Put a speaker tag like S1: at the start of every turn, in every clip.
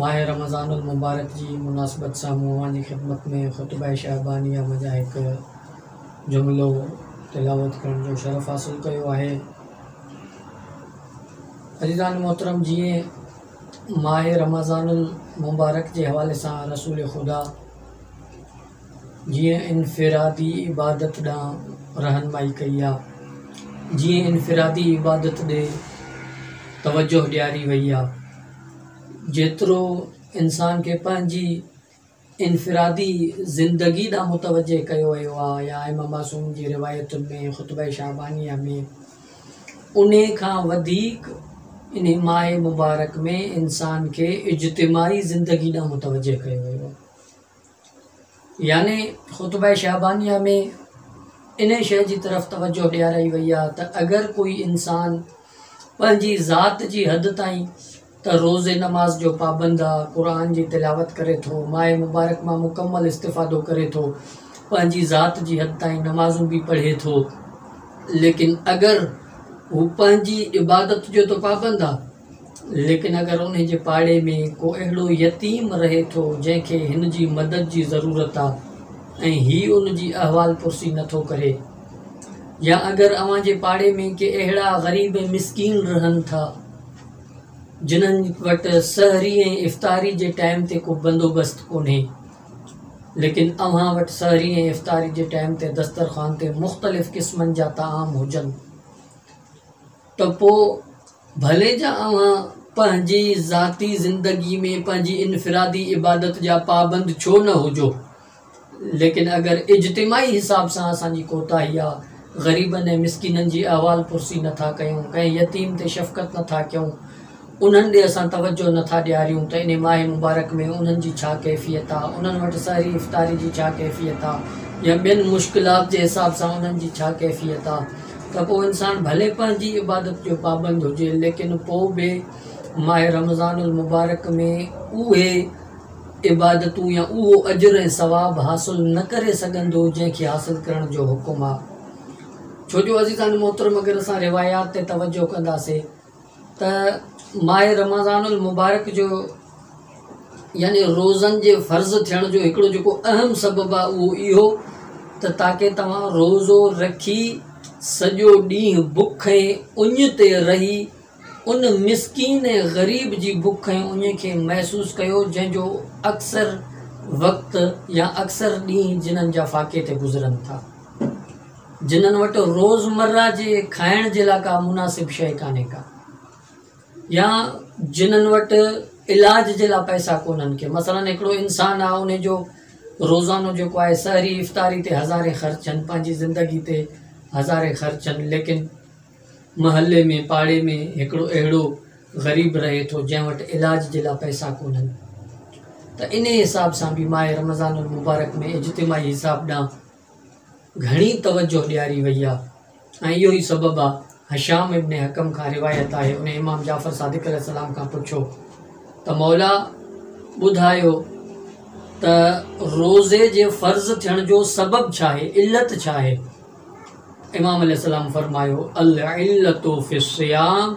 S1: ماهه رمضان المبارڪ جي مناسبت سان مون اوهان جي خدمت ۾ خطبه شعبانيه مان جا هڪ جملو تلاوت ڪرڻ جو شرف حاصل ڪيو آهي. عزيزان محترم جيئن ماهه رمضان المبارڪ جي حوالي سان رسول خدا جيئن انفرادي عبادت ڏانهن رهنمائي ڪئي آ جيئن انفرادي عبادت ڏي توجه ڏياري وئي آ جيترو انسان کي پنهنجي انفرادي زندگي ڏانهن متوجه ڪيو ويو آ يا ائمه معصوم جي روايتن ۾ خطبه شعبانيه ۾ انهي کان وڌيڪ انهي ماء مبارڪ ۾ انسان کي اجتماعي زندگي ڏانهن متوجه ڪيو ويو آ. يعني خطبه شعبانيه ۾ انهي شيء جي طرف توجه ڏيارائي وئي آهي ته اگر ڪوئي انسان پنهنجي ذات جي حد تائين ته روزي نماز جو پابند آ قرآن جي تلاوت ڪري ٿو ماء مبارڪ مان مڪمل استفادو ڪري ٿو پنهنجي ذات جي حد تائين نمازون به پڙهي ٿو ليڪن اگر هو پنهنجي عبادت جو ته پابند آ ليڪن اگر انهي جي پاڙي ۾ ڪو اهڙو يتيم رهي ٿو جنهن کي هن جي مدد جي ضرورت آ ۽ هي ان جي احوال پرسي نه ٿو ڪري يا اگر اوهان جي پاڙي ۾ ڪي اهڙا غريب ۽ مسڪين رهن ٿا جنهن وٽ سحري ۽ افطاري جي ٽائيم تي ڪو بندوبست ڪونهي ليڪن اوهان وٽ سحري ۽ افطاري جي ٽائيم تي دسترخوان تي مختلف قسمن جا طعام هجن ته پوء ڀلي جا اوهان پنهنجي ذاتي زندگي ۾ پنهنجي انفرادي عبادت جا پابند ڇو نه هجو ليڪن اگر اجتماعي حساب سان اسان جي ڪوتاهي آ غريبن ۽ مسڪينن جي احوال پرسي نه ٿا ڪيون ڪنهن يتيم تي شفقت نه ٿا ڪيون انهن ڏي اسان توجهه نه ٿا ڏياريون ته انهي ماه مبارڪ ۾ انهن جي ڇا ڪيفيت آ، انهن وٽ سحري افطاري جي ڇا ڪيفيت آ يا ٻين مشڪلات جي حساب سان انهن جي ڇا ڪيفيت آ ته پوء انسان ڀلي پنهنجي عبادت جو پابند هجي ليڪن پوء به ماه رمضان المبارڪ ۾ اهي عبادتون يا اهو اجر ۽ ثواب حاصل نه ڪري سگهندو جنهن کي حاصل ڪرڻ جو حڪم آ ڇو جو عزيزان محترم اگر اسان روايات تي توجهه ڪنداسين ته ماهه رمضان المبارڪ جو يعني روزن جي فرض ٿيڻ جو هڪڙو جيڪو اهم سبب آهي اهو اهو ته تاڪي توهان روزو رکي سڄو ڏينهن بک ۽ اڃ تي رهي ان مسڪين ۽ غريب جي بک ۽ اڃ کي محسوس ڪيو جنهن جو اڪثر وقت يا اڪثر ڏينهن جنن جا فاقي تي گذرن ٿا جنھن وٽ روزمره جي کائڻ جي لاء ڪا مناسب شيء ڪانھي ڪا يا جنھن وٽ علاج جي لاء پئسا ڪونھن ڪي مثلا ھڪڙو انسان آ ان جو روزانو جيڪو آھي سحري افطاري تي ھزارين خرچن پنھنجي زندگي تي ھزارين خرچن ليڪن محلي ۾ پاڙي ۾ ھڪڙو اھڙو غريب رھي ٿو جنھن وٽ علاج جي لاء پئسا ڪونھن ته انھي حساب سان به ماھه رمضان المبارڪ ۾ اجتماعي حساب ڏانھن گهڻي توجه ڏياري وئي آهي ۽ اهو ئي سبب آهي هشام ابن حڪم کان روايت آهي انهي امام جعفر صادق عليه السلام کان پڇيو ته مولا ٻڌايو ته روزي جي فرض ٿيڻ جو سبب ڇا آهي علت ڇا آهي امام عليه السلام فرمايو العلة في الصيام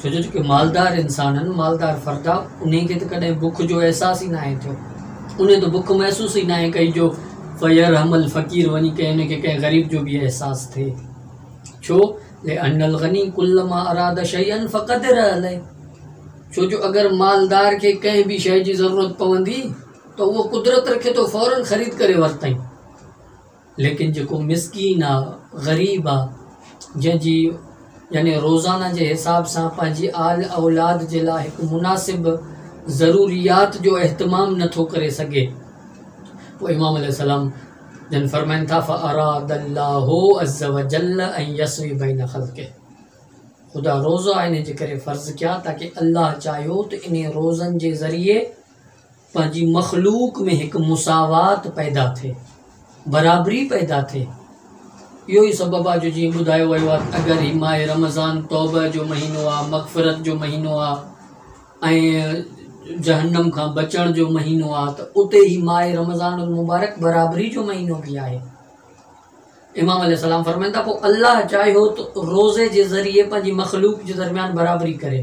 S1: ڇو جو جيڪي مالدار انسان آهن، مالدار فردا، انهن کي ته ڪڏهن بک جو احساس ئي ناهي ٿيو. انهن ته بک محسوس ئي ناهي ڪئي جو فيرحم الفقير وڃي ڪنهن کي ڪنهن غريب جو به احساس ٿئي. ڇو؟ لان الغني ڪلما اراد شيئا فقدر عليه. ڇو جو اگر مالدار کي ڪنهن به شيء جي ضرورت پوندي ته اهو قدرت رکي ٿو فورن خريد ڪري ورتائين. ليڪن جيڪو مسڪين آ غريب آ جنهن جي يعني روزانه جي حساب سان پنهنجي آل اولاد جي لاء هڪ مناسب ضروريات جو اهتمام نٿو ڪري سگهي پوء امام عليه السلام جن فرمائن ٿا فاراد الله عز وجل ان يسوي بين خلقه خدا روزا ان جي ڪري فرض ڪيا تاڪه الله چاهيو ته انهي روزن جي ذريعي پنهنجي مخلوق ۾ هڪ مساوات پيدا ٿئي، برابري پيدا ٿئي. اهو ئي سبب آهي جو جيئن ٻڌايو ويو آهي ته اگر هي ماهه رمضان توبه جو مهينو آهي، مغفرت جو مهينو آهي ۽ جهنم کان بچڻ جو مهينو آهي ته اتي هي ماهه رمضان المبارڪ برابري جو مهينو به آهي. امام عليه السلام فرمائن ٿا پوء الله چاهيو ته روزي جي ذريعي پنهنجي مخلوق جي درميان برابري ڪري.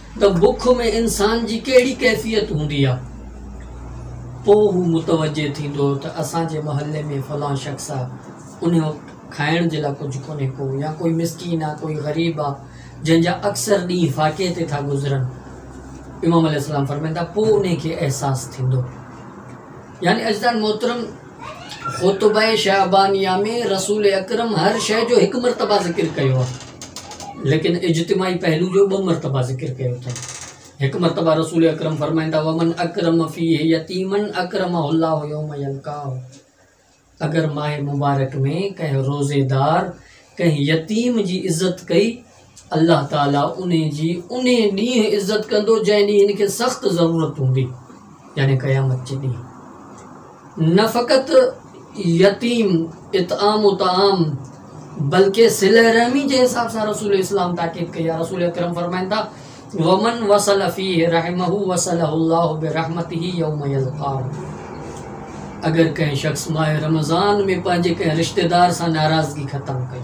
S1: ته بک ۾ انسان جي ڪهڙي ڪيفيت هوندي آ پوء هو متوجه ٿيندو ته اسان جي محلي ۾ فلان شخص آ ان وقت کائڻ جي لا ڪجهه ڪونهي ڪو يا ڪوئي مسڪين آ ڪوئي غريب آ جنهن جا اڪثر ڏينهن فاقي تي ٿا گذرن امام عليه السلام فرمائين ٿا پوء انهي کي احساس ٿيندو. يعني عزيزان محترم خطبه شعبانيه ۾ رسول اڪرم هر شيء جو هڪ مرتبه ذڪر ڪيو آهي ليڪن اجتماعي پهلو جو ٻه مرتبه ذڪر ڪيو اٿن هڪ مرتبه رسول اڪرم فرمائين ٿا ومن اڪرم فيه يتيمن اڪرمه الله يوم يلقاه اگر ماء مبارڪ ۾ ڪنهن روزيدار ڪنهن يتيم جي عزت ڪئي الله تعالي ان جي انهي ڏينهن عزت ڪندو جنهن ڏينهن هن کي سخت ضرورت هوندي يعني قيامت جي ڏينهن نه فقط يتيم اطعام و طعام بلڪه صله رحمي جي حساب سان رسول اسلام تاڪيد ڪئي آهي رسول اڪرم فرمائن ٿا ومن وصل فيه رحمه وصله الله برحمته يوم يلقاه اگر ڪنهن شخص ماهه رمضان ۾ پنهنجي ڪنهن رشتي دار سان ناراضگي ختم ڪئي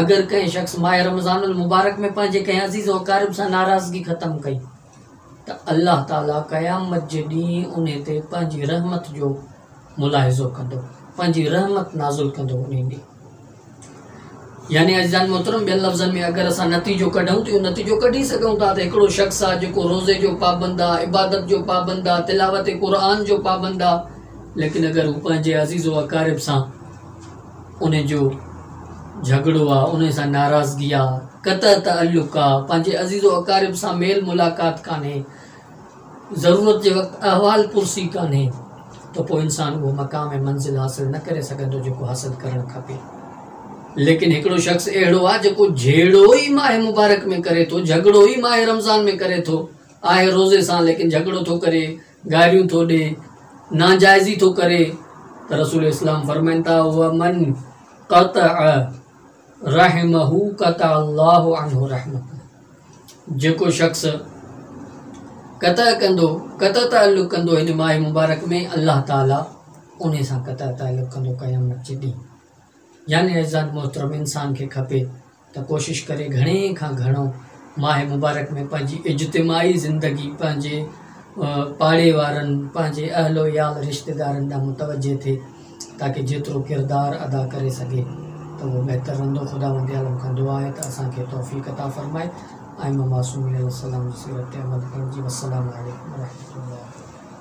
S1: اگر ڪنهن شخص ماهه رمضان المبارڪ ۾ پنهنجي ڪنهن عزيز و قارب سان ناراضگي ختم ڪئي ته الله تعالي قيامت جي ڏينهن انهي تي پنهنجي رحمت جو ملاحظو ڪندو پنهنجي رحمت نازل ڪندو انهي ڏينهن يعني عزيزان محترم ٻين لفظن ۾ اگر اسان نتيجو ڪڍون ته اهو نتيجو ڪڍي سگهون ٿا ته هڪڙو شخص آ جيڪو روزي جو پابند آ عبادت جو پابند آ تلاوت قرآن جو پابند آ ليڪن اگر هو پنهنجي عزيز و اقارب سان انهي جو جهڳڙو آ انهي سان ناراضگي آ قطع تعلق آ پنهنجي عزيز و اقارب سان ميل ملاقات ڪانهي ضرورت جي وقت احوال پرسي ڪانهي ته پوء انسان اهو مقام ۽ منزل حاصل نه ڪري سگهندو جيڪو حاصل ڪرڻ کپي. ليڪن هڪڙو شخص اهڙو آهي جيڪو جهيڙو ئي ماهه مبارڪ ۾ ڪري ٿو، جهڳڙو ئي ماهه رمضان ۾ ڪري ٿو، آهي روزي سان ليڪن جهڳڙو ٿو ڪري، گاريون ٿو ڏي، ناجائزي ٿو ڪري ته رسول اسلام فرمائن ٿا، ومن قطع. رحمه قطع الله عنه رحمه جيڪو شخص قطع ڪندو قطع تعلق ڪندو هن ماهي مبارڪ ۾ الله تعالي ان سان قطع تعلق ڪندو قيامت جي ڏينهن يعني عزت محترم انسان کي کپي ته ڪوشش ڪري گهڻي کان گهڻو ماهي مبارڪ ۾ پنهنجي اجتماعي زندگي پنهنجي پاڙي وارن پنهنجي اهل و عيال رشتيدارن ڏانهن متوجه ٿي تاڪه جيترو ڪردار ادا ڪري سگهي ته اهو بهتر رهندو خداوند عالم کان دعا آهي ته اسان کي توفيق عطا فرمائي ائمه معصومين عليه السلام جي سيرت تي عمل ڪرڻ جي والسلام عليڪم ورحمة الله.